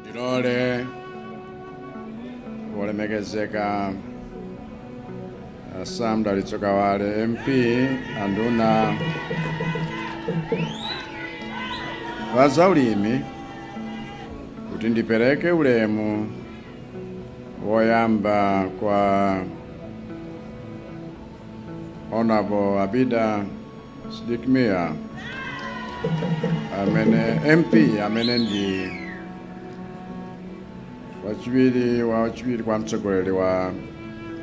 Ndilole wolemekezeka a Sam Dalitso Kawale MP anduna wa zaulimi kuti ndipereke ulemu woyamba kwa Honorable Abida Sidik Mia amene MP amene ndi wachiwiri kwa mtsogoleri wa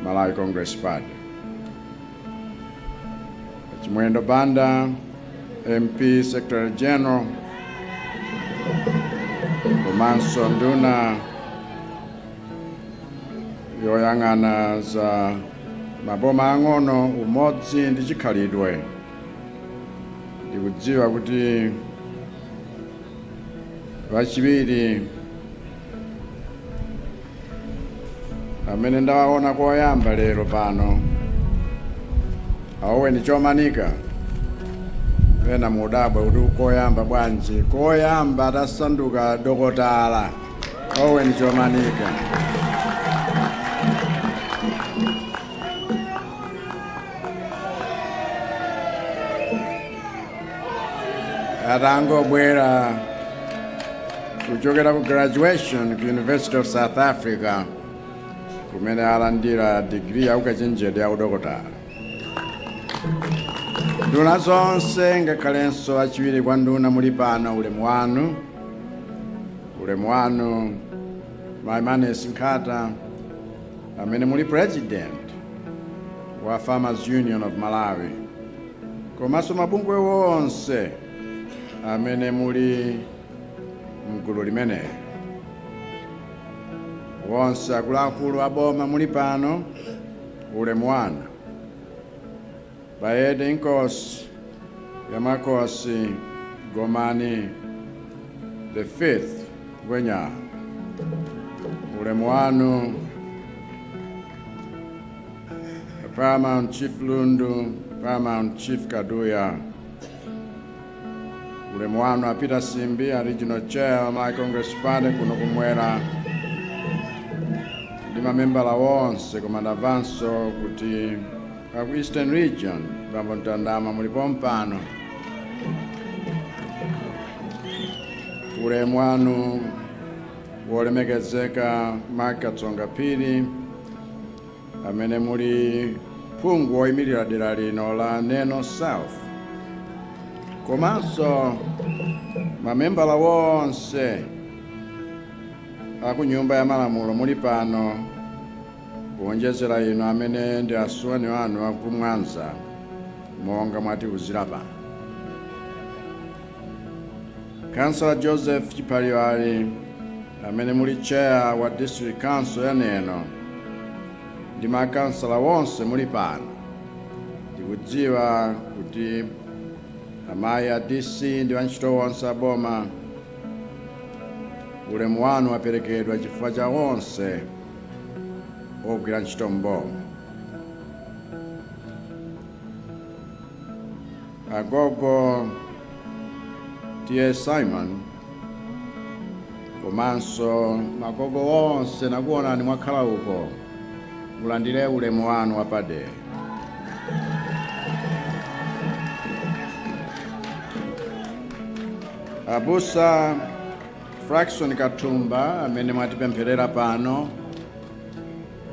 Malawi Congress Party Chimwendo Banda MP Secretary General komanso nduna yoyang'ana za maboma ang'ono umodzi ndi chikhalidwe ndikudziwa kuti wachiwiri amene ndawaona koyamba lero pano a Owen Chomanika ena mudabwa kuti koyamba bwanji koyamba atasanduka dokotala Owen Chomanika. atangobwera kuchokera ku graduation ku university of south africa kumene alandira digiri ya ukachenjede ya udokotala nduna zonse ngakhalenso achiwiri kwa nduna muli pano ulemu wanu ulemu wanu mai Maness Nkhata amene muli president wa farmers union of malawi komanso mabungwe onse amene muli mgulu limeneli onse akuluakulu aboma muli pano ulemu wanu Bayede Inkosi Yamakosi Gomani the fifth Ngwenya, ulemu wanu Paramount Chief Lundu, Paramount Chief Kaduya, ulemu wanu a Peter Simbi, a Regional Chair wa Malawi Congress Party kuno kumwera ndi mamembala onse koma ndamvanso kuti Aku Eastern Region, Bambo Mtandama muli pompano. Ulemu wanu wolemekezeka Mark Katsonga Phiri amene muli phungu woyimirira dera lino la Neno South komanso mamembala wonse aku nyumba ya malamulo muli pano Kuonjezera inu amene ndi asuwani anu a ku Mwanza monga mwatiuzira pano. Councillor Joseph Chiphaliwali amene muli chair wa district council ya Neno ndi makansala wonse muli pano ndikudziwa kuti mayi DC ndi antchito wonse aboma ulemu wanu waperekedwa chifukwa cha onse ogwira ntchito m'boma agogo T/A Symon komanso magogo onse nakuonani mwakhala uko mulandire ulemu wanu wapadera abusa Frackson Kathumba amene mwatipempherera pano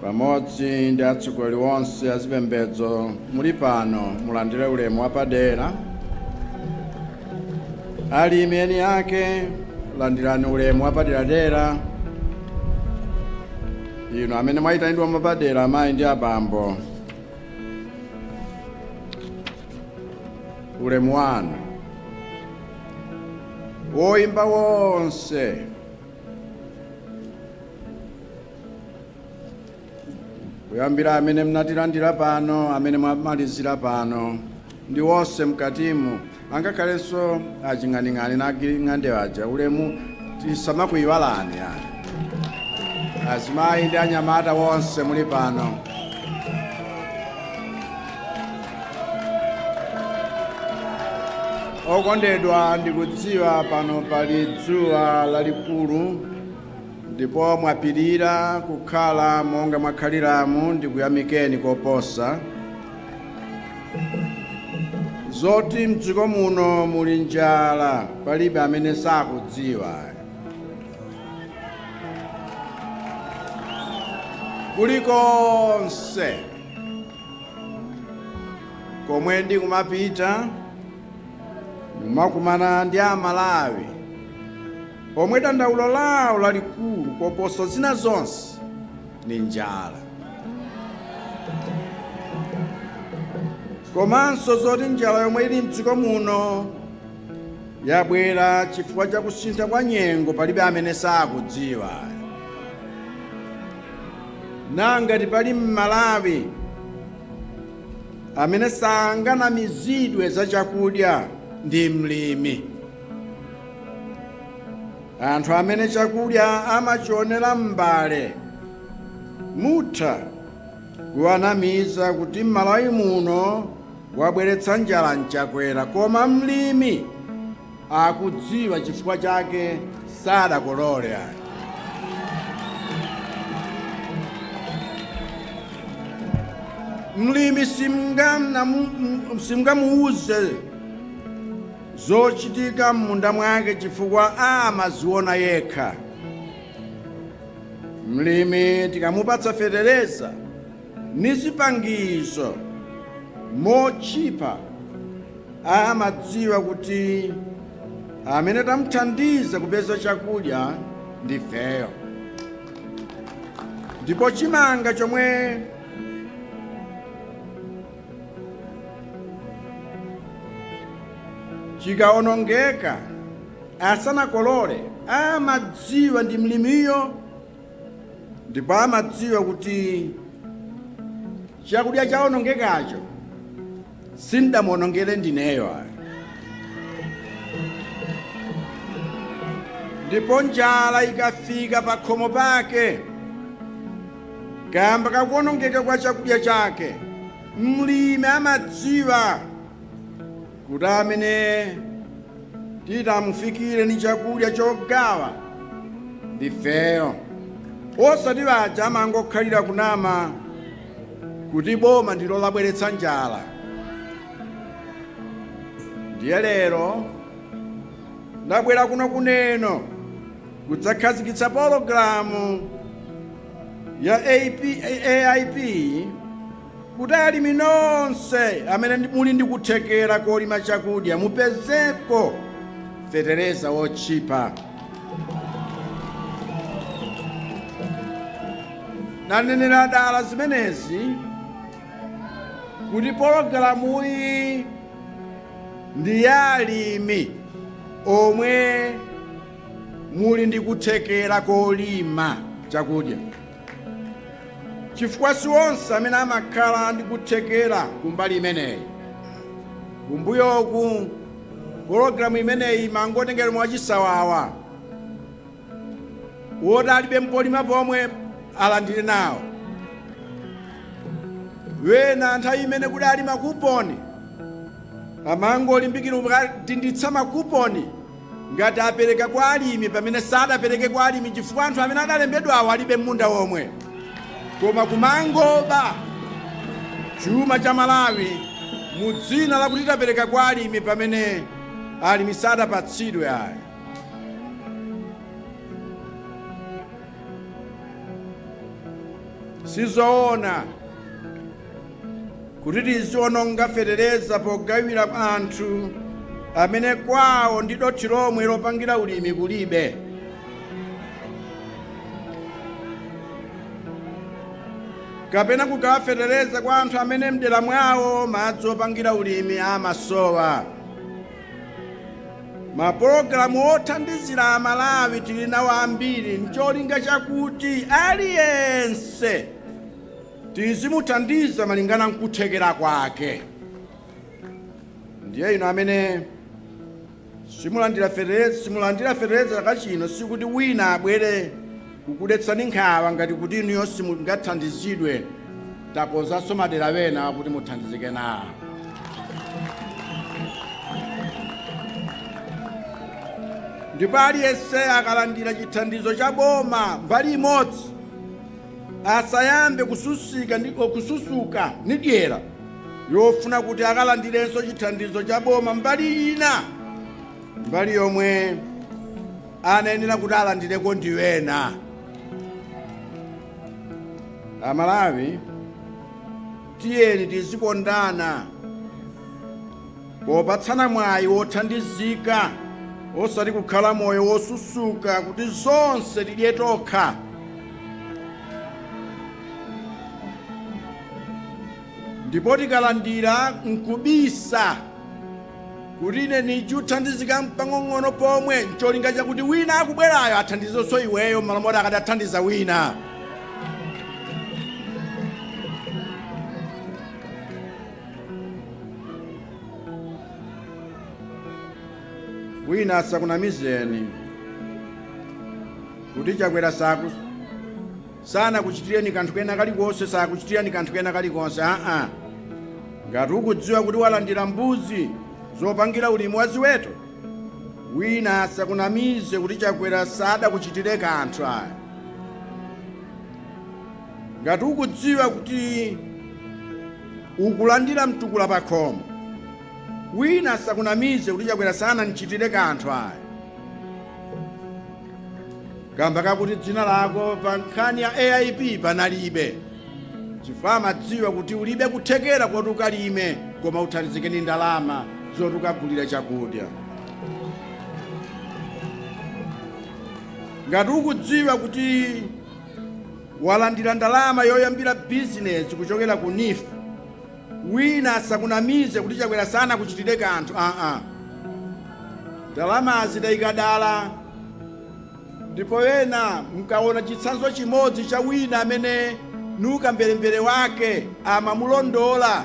pamodzi ndi atsogoleri onse azipembedzo muli pano mulandire ulemu wapadera. Alimi eni ake landirani ulemu wapaderadera. Inu amene mwayitanidwa mwapadera amayi ndi abambo, ulemu wanu. oimba wonse kuyambira amene mnatilandira pano amene mwamalizira pano ndi wonse mkatimu angakhalenso a Ching'aning'ani ndi a Giring'ande aja ulemu tisamakuyiwalani ayi azimayi ndi anyamata wonse muli pano okondedwa ndikudziwa pano pali dzuwa lalikulu ndipo mwapirira kukhala monga mwakhaliramu ndikuyamikeni koposa zoti mdziko muno muli njala palibe amene sakudziwa kulikonse komwe ndikumapita ndimakumana ndi Amalawi omwe dandaulo lawo lalikulu koposa zina zonse ndi njala komanso zoti njala yomwe ili mdziko muno yabwera chifukwa cha kusintha kwa nyengo palibe amene sakudziwa Na ngati pali m'Malawi amene sanganamizidwe za chakudya ndi mlimi. Anthu amene chakudya amachionera m'mbale mutha kuwanamiza kuti m'Malawi muno wabweretsa njala ndi Chakwera koma mlimi akudziwa chifukwa chake sadakolole ayi. Mlimi simungamnamu- simungamuuze zochitika m'munda mwake chifukwa amaziona yekha. Mlimi tikamupatsa fetereza ndi zipangizo zotchipa amadziwa kuti amene tamthandiza kupeza chakudya ndifeyo ndipo chimanga chomwe chikaonongeka asanakolole amadziwa ndi mlimiyo ndipo amadziwa kuti chakudya chawonongekacho sindamuwonongere ndineyo ayi ndipo njala ikafika pa khomo pake kamba kakuwonongeka kwa chakudya chake mlimi amadziwa kuti amene titamufikire ni chakudya chogawa ndifeyo osati aja amangokhalira kunama kuti boma ndilo labweretsa njala ndiye lero ndabwera kuno ku Neno kudzakhazikitsa pologalamu ya AP, AIP Kuti alimi nonse amene muli ndi kuthekera kolima chakudya mupezeko fetereza wotchipa. Ndanenera dala zimenezi kuti pologalamuyi ndi ya alimi omwe muli ndi kuthekera kolima chakudya. chifukwa si onse amene amakhala ndi kuthekera kumbali imeneyi. Kumbuyoku pologalamu imeneyi imangotengedwa mwachisawawa woti alibe ndi polima pomwe alandire nawo wena nthawi imene kudali makuponi amangolimbikira kudinditsa makuponi Ngati apereka kwa alimi pamene sadapereke kwa alimi chifukwa anthu amene adalembedwawo alibe ndi munda womwe koma kumangoba chuma cha Malawi mu dzina lakuti tapereka kwa alimi pamene alimi sadapatsidwe ayi. Sizoona. kuti tiziononga fetereza pogawira anthu amene kwawo ndi dothi lomwe lopangira ulimi kulibe kapena kugawa fetereza kwa anthu amene mdera mwawo madzi opangira ulimi amasowa mapulogalamu othandizira Amalawi tili nawo ambiri ncholinga chakuti aliyense Tizimuthandiza malingana nkuthekera kwake. Ndiye inu amene simulandira fetereza chaka chino sikuti wina abwere kukudetsani nkhawa ngati kuti inuyo simungathandizidwe. Takonzanso madera wena akuti muthandizike nawo. Ndipo aliyense akalandira chithandizo cha boma mbali imodzi, asayambe kususuka ndi dyera yofuna kuti akalandirenso chithandizo cha boma mbali ina mbali yomwe anayenera kuti alandireko ndi wena Amalawi tiyeni tizikondana popatsana mwayi wothandizika osati kukhala moyo wosusuka kuti zonse tidye tokha ndipo tikalandira nkubisa kuti ine nichuthandizika mpang'ong'ono pomwe ncholinga chakuti wina akubwerayo athandizenso iweyo mmalo moti akadathandiza wina wina asakunamizeni kuti chakwera saku sanakuchitireni kanthu kena kalikonse sakuchitirani kanthu kena kalikonse aa ngati ukudziwa kuti walandira mbuzi zopangira ulimi wa ziweto wina asakunamize kuti chakwera sadakuchitire kanthu ayi Ngati ukudziwa kuti ukulandira mtukula pakhomo, wina asakunamize kuti Chakwera sanandichitire kanthu ayi kamba kakuti dzina lako pa nkhani ya AIP panalibe chifukwa amadziwa kuti ulibe kuthekera koti ukalime koma uthandizike ndi ndalama zoti ukagulire chakudya. Ngati ukudziwa kuti walandira ndalama yoyambira bizinezi kuchokera ku NEEF wina asakunamize kuti chakwera sanakuchitire kanthu aa ndalamazi tayika dala ndipo ena mukaona chitsanzo chimodzi cha wina amene ndi ukamberembere wake amamulondola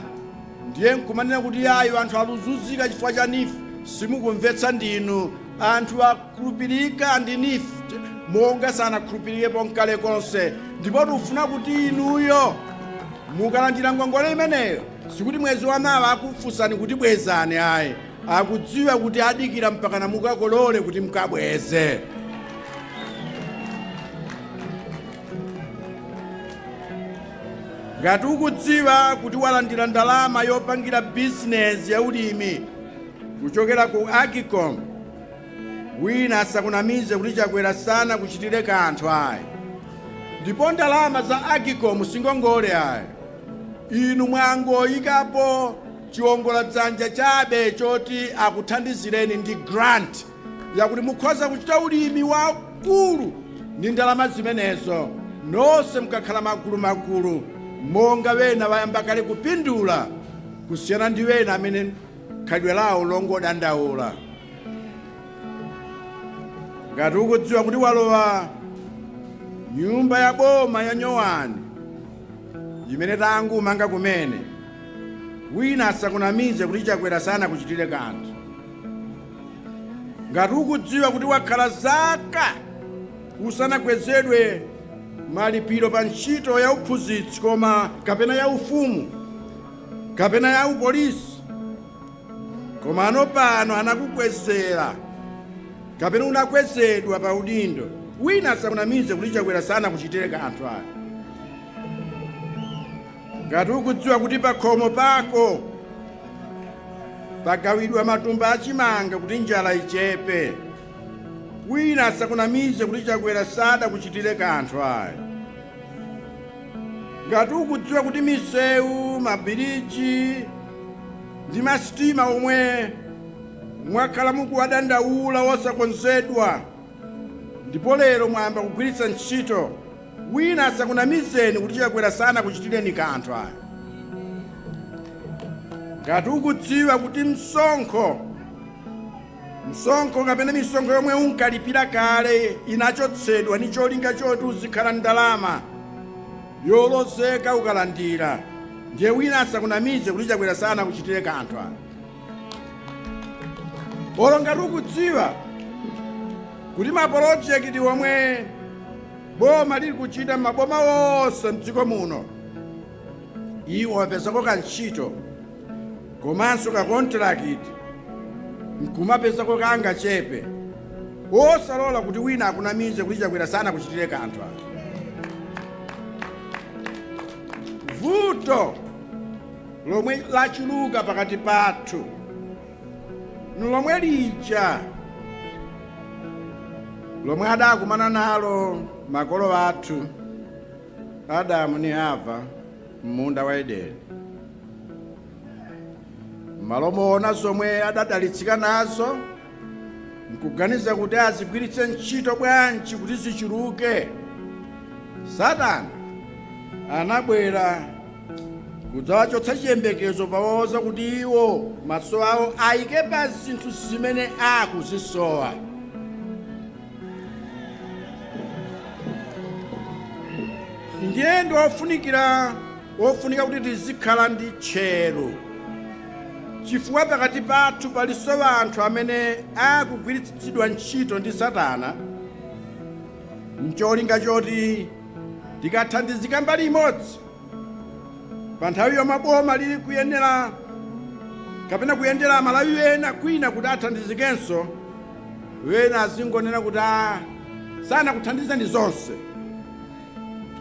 ndiye nkumanena kuti ayi anthu akuzunzika chifukwa cha NEEF simukumvetsa ndinu anthu a Khulupirika ndi NEEF monga sanakhulupirikepo nkale konse, ndipo tikufuna kuti inuyo mukalandira ngongole imeneyo sikuti mwezi wamawa akufunsani kuti bwezani ayi, akudziwa kuti adikira mpakana mukakolole kuti mukabweze. Ngati ukudziwa kuti walandira ndalama yopangira bizinezi ya ulimi kuchokera ku AGCOM, Wina asakunamize kuti chakwera sanakuchitire kanthu ayi ndipo ndalama za AGCOM si ngongole ayi inu mwangoyikapo chiongoladzanja chabe choti akuthandizireni ndi grant yakuti mukhoza kuchita ulimi wakulu ndi ndalama zimenezo nonse mukakhala magulu magulu monga wena wayamba kale kupindula kusiyana ndi wena amene khalidwe lawo longodandaula. Ngati ukudziwa kuti walowa nyumba ya boma yanyowani imene tangomanga kumene, wina asakunamize kuti Chakwera sanakuchitire kanthu. Ngati ukudziwa kuti wakhala zaka usanakwezedwe malipiro pa ntchito ya uphunzitsi koma kapena ya ufumu, kapena ya upolisi komano pano anakukwezera kapena unakwezedwa pa udindo wina asakunamize kuti chakwera sanakuchitire kanthu ayi ngati ukudziwa kuti pakhomo pako pagawidwa matumba achimanga kuti njala ichepe wina asakunamize kuti chakwera sadakuchitire kanthu ayi ngati ukudziwa kuti misewu mabiriji ndi masitima omwe mwakhala mukuwadandaula wosakonzedwa ndipo lero mwayamba kugwiritsa ntchito wina asakunamizeni kuti chakwera sanakuchitireni kanthu ayi ngati ukudziwa kuti msonkho msonkho kapena misonkho yomwe unkalipira kale inachotsedwa ni cholinga choti uzikhala ndalama yolozeka ukalandira ndiye wina asakunamize kuti chakwera sanakuchitire kanthu ayi olo ngati ukudziwa kuti mapolojekiti omwe boma lili kuchita maboma onse mdziko muno iwe wapezako kantchito komanso kakontirakiti nkumapezako kangachepe osalola kuti wina akunamize kuti chakwera sanakuchitire kanthu ayi vuto lomwe lachuluka pakati pathu nlomwe lija lomwe adakumana nalo makolo athu Adamu ni Hava m'munda wa Edeni. M'malo moona zomwe adadalitsika nazo n'kuganiza kuti azigwiritse ntchito bwanji kuti zichuluke, Satana anabwera kudzawachotsa chiyembekezo powauza kuti iwo maso awo ayike pa zinthu zimene akuzisowa. ndiye ndi ofunikira ofunika kuti tizikhala ndi tcheru chifukwa pakati pathu palinso anthu amene akugwiritsidwa ntchito ndi satana ncholinga choti tikathandizika mbali imodzi pa nthawi yomwe boma lili kuyenera kapena kuyendera amalawi ena kwina kuti athandizikenso ena azingonena kuti a sanakuthandizani zonse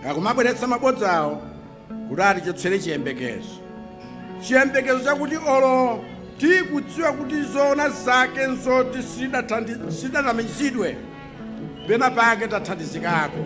akumabweretsa mabodza awo kuti atichotsere chiyembekezo chiyembekezo chakuti olo tikudziwa kuti zoona zake nzoti sidatamizidwe pena pake tathandizikako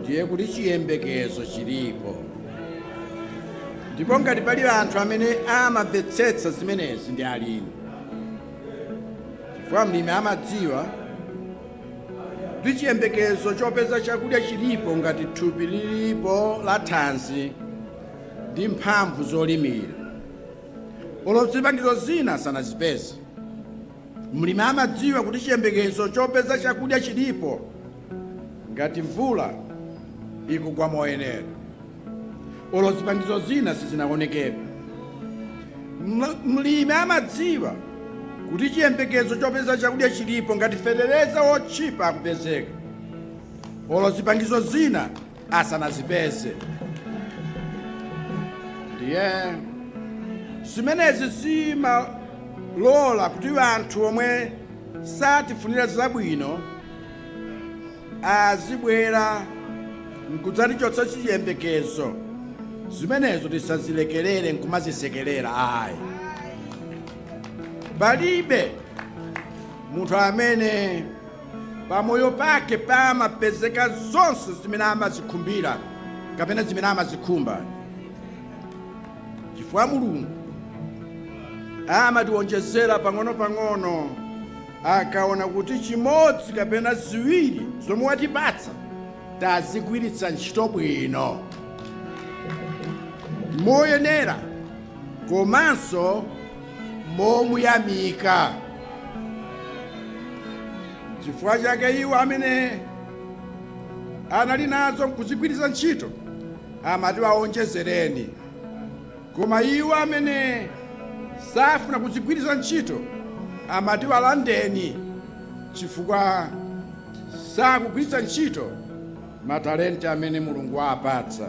ndiye kuti chiyembekezo chilipo ndipo ngati pali anthu amene amamvetsetsa zimenezi ndi alimi chifukwa mlimi amadziwa kuti chiyembekezo chopeza chakudya chilipo ngati thupi lilipo la thanzi ndi mphamvu zolimira olo zipangizo zina sanazipeze mlimi amadziwa kuti chiyembekezo chopeza chakudya chilipo Ngati mvula ikugwa moyenera, olo zipangizo zina sizinaoneke, mlimi amadziwa kuti chiyembekezo chopeza chakudya chilipo ngati fetereza wotchipa akupezeka, olo zipangizo zina asanazipeze. Ndiye zimenezi zimalola kuti anthu omwe satifunira zabwino azibwera nkudzatichotsera chiyembekezo zimenezo tisazilekelere nkumazisekelera ayi palibe munthu amene pamoyo pake pamapezeka zonse zimene amazikhumbira kapena zimene amazikhumba chifukwa mulungu amatiwonjezera pang'ono-pang'ono Akaona kuti chimodzi kapena ziwiri zomwe watipatsa tazigwiritsa ntchito bwino, moyenera komanso momuyamika. Chifukwa chake iwo amene anali nazo n'kuzigwiritsa ntchito amati, waonjezereni. Koma iwo amene safuna kuzigwiritsa ntchito amati walandeni chifukwa sakugwiritsa ntchito matalenti amene Mulungu waapatsa.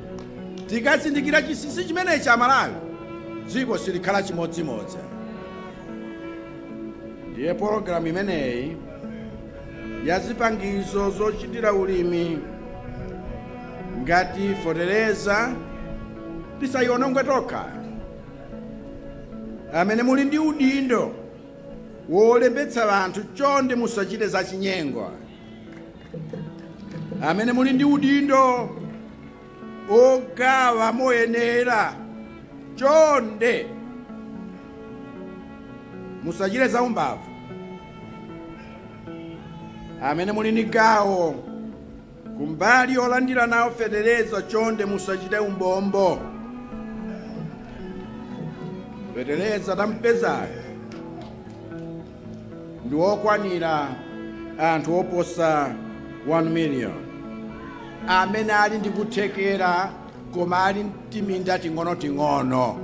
tikazindikira chinsinsi chimenechi amalawi dziko silikhala chimodzimodzi ndiye pologalamu imeneyi ya zipangizo zochitira ulimi ngati fetereza tisayionongwe tokha amene muli ndi udindo wolembetsa anthu chonde musachite zachinyengo amene muli ndi udindo ogawa moyenera chonde musachite za umbava amene muli ndi gawo kumbali yolandira nawo fetereza chonde musachite umbombo fetereza tampezayo ndi wokwanira anthu oposa 1 million amene ali ndi kuthekera koma ali ntiminda ting'onoting'ono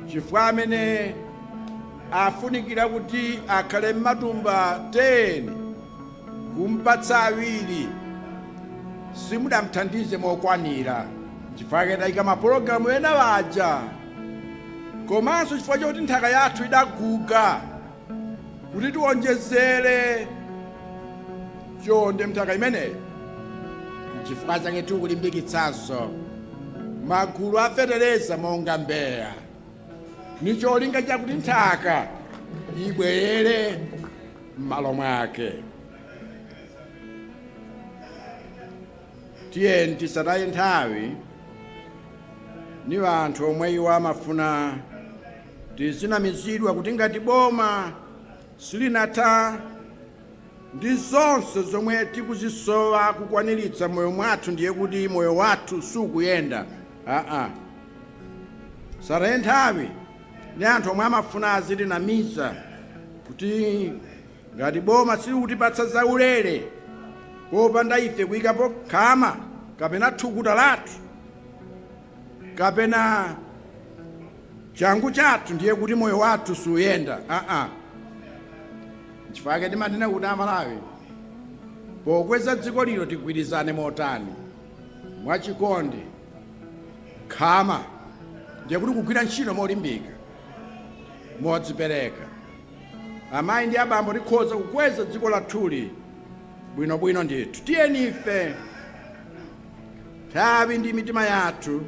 chifukwa amene afunikira kuti akhale m'matumba 10 kumpatsa awiri simudamthandize mokwanira chifukwa chake tayika mapulogalamu ena aja komanso chifukwa choti nthaka yathu idaguga kuti tiwonjezere chonde mnthaka imeneyi chifukwa chake tikulimbikitsanso magulu a fetereza monga mbeya ni cholinga chakuti nthaka ibwerere m'malo mwake Tiyeni tisataye nthawi ni anthu omwe iwo amafuna tizinamizidwa kuti ngati boma silinatha ndi zonse zomwe tikuzisowa kukwaniritsa moyo mwathu ndiye kuti moyo wathu sukuyenda aa sataye nthawi ni anthu omwe amafuna azitinamiza kuti Ngati boma silikutipatsa zaulere popanda ife kuyikapo khama kapena thukuta lathu kapena changu chathu ndiye kuti moyo wathu suuyenda aa nchifukwa chake timanena kuti amalawi pokweza dziko lino tigwirizane motani mwachikondi khama ndiye kuti kugwira ntchito molimbika modzipereka Amayi ndi abambo, tikhoza kukweza dziko lathuli bwinobwino ndithu. Tiyeni ife nthawi ndi mitima yathu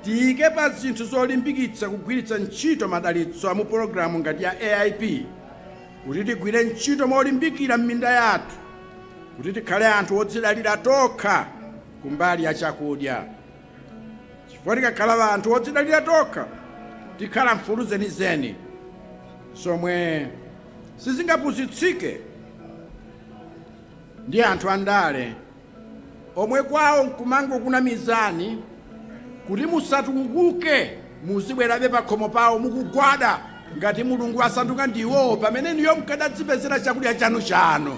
tiyike pa zinthu zolimbikitsa kugwiritsa ntchito madalitso a mu pologalamu ngati ya AIP kuti tigwire ntchito molimbikira m'minda yathu kuti tikhale anthu odzidalira tokha kumbali ya chakudya. chifukwa tikakhala anthu odzidalira tokha tikhala mfulu zenizeni zomwe sizingapusitsike ndi anthu andale omwe kwawo nkumangokunamizani kuti musatukuke muzibwerabe pakhomo pawo mukugwada ngati mulungu asanduka ndiwo pamene inuyo mkadadzipezera chakudya chanu chanu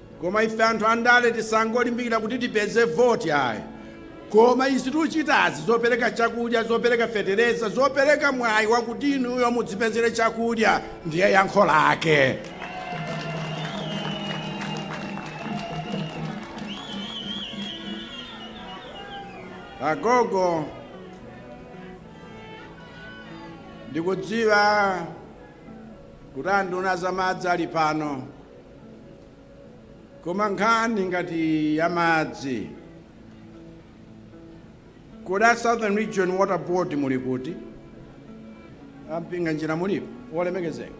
Koma ife anthu andale tisangolimbikira kuti tipeze voti ayi koma izi tuchitazi zopereka chakudya, zopereka fetereza, zopereka mwayi wakuti inuyo mudzipezere chakudya ndiye yankho lake. Agogo ndikudziwa kuti anduna za madzi ali pano. Koma nkhani ngati ya madzi, kodi a Southern Region Water Board muli kuti? A Mpinganjira mulipo? Wolemekezeka,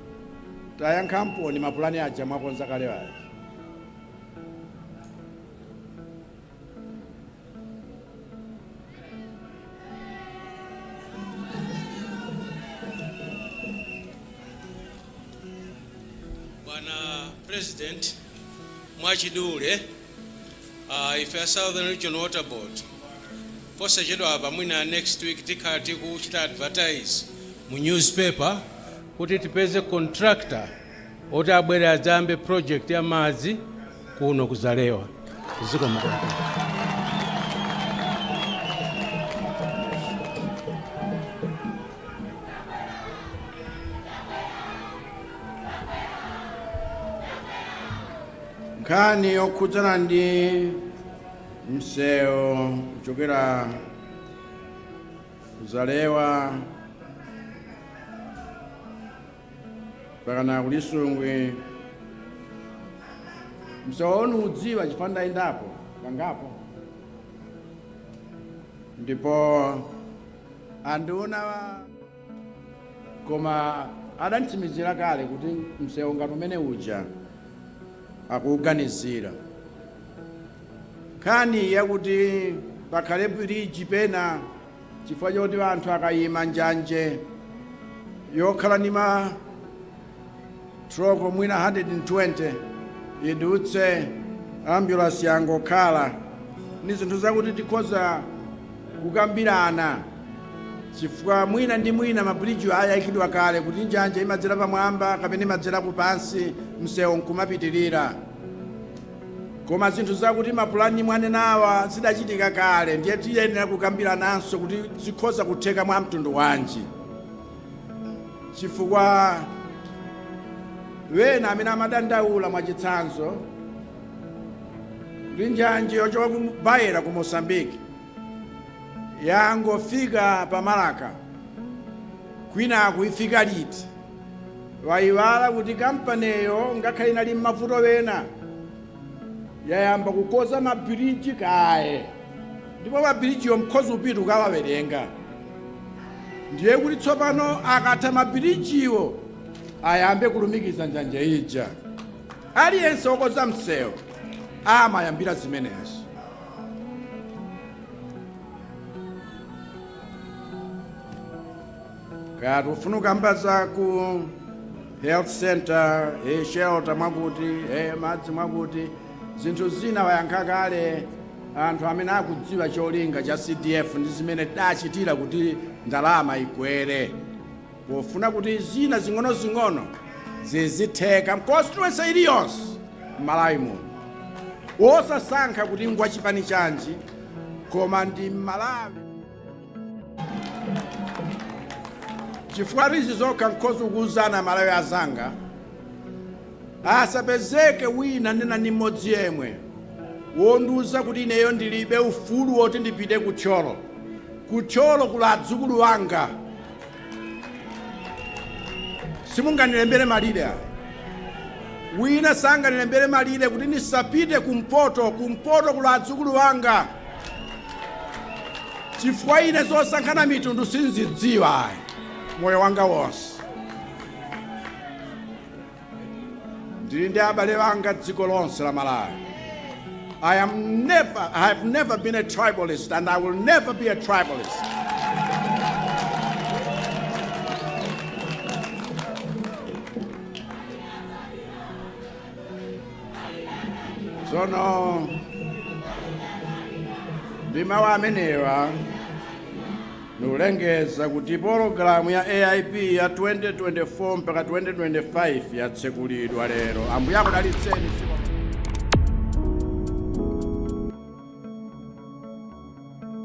tayankhaponi mapulani aja mwakonza kale aja. Bwana President, mwachidule uh, ife a Southern Region Water Board posachedwa apa mwina next week tikhala tikuchita advertise mu newspaper kuti tipeze contractor oti abwere adzambe project ya madzi kuno ku Zalewa. Zikomo kwambiri. nkhani yokhudzana ndi msewu kuchokera ku Zalewa mpakana ku Lisungwi msewu ndiudziwa chifukwa ndayendapo kangapo ndipo anduna koma adanditsimizira kale kuti msewu ngati umene uja akuuganizira nkhani yakuti pakhale biriji pena chifukwa choti anthu akayima njanje yokhala ndi ma troko mwina 120 idutse ambulansi yangokhala ni zinthu zakuti tikhoza kukambirana chifukwa mwina ndi mwina mabiliji ayikidwa kale kuti njanje imadzera pamwamba kapena imadzera kupansi msewu nkumapitirira Koma zinthu zakuti mapulani mwanenawa zidachitika kale ndiye tiyenera kukambirananso kuti zikhoza kutheka mwa mtundu wanji chifukwa ena amene amadandaula mwachitsanzo ndi njanje yochoka ku Beira ku Mozambique yangofika pa Marka kwinaku ifika liti Aiwala kuti kampaniyo ngakhale inali mmavuto ena, yayamba kukoza ma bridge kaye ndipo ma bridge wo nkhoza kupita kukawawerenga. Ndiye kuti tsopano akatha ma bridge wo ayambe kulumikiza njanje ija. Aliyense okoza msewu amayambira zimenezo. kaya tikufuna kukamba za ku health center e shelter mwakuti e madzi mwakuti zinthu zina wayankha kale anthu amene akudziwa cholinga cha cdf ndi zimene tidachitira kuti ndalama ikwere pofuna kuti zina zing'onozing'ono zizitheka m'constituency iliyonse m'malawi muno osasankha kuti ngwachipani chanji koma ndi mmalawi chifukwa izi zokha nkhoza kuuzana amalawi anzanga asapezeke wina nena ni mmodzi yemwe wondiuza kuti ineyo ndilibe ufulu woti ndipite ku thyolo ku thyolo kuli adzukulu wanga simunganilembere malire ayi wina sanganilembere malire kuti ndisapite kumpoto kumpoto kuli adzukulu wanga chifukwa ine zosankhana mitundu sindizidziwa ayi moyo wanga wonse ndili ndi abale anga dziko lonse la malawi i am never i have never been a tribalist and i will never be a tribalist tsono ndi mawu amenewa Ndikulengeza kuti pologalamu ya AIP ya 2024 mpaka 2025 yatsekulidwa lero. Ambuye akudalitseni. Zikomo.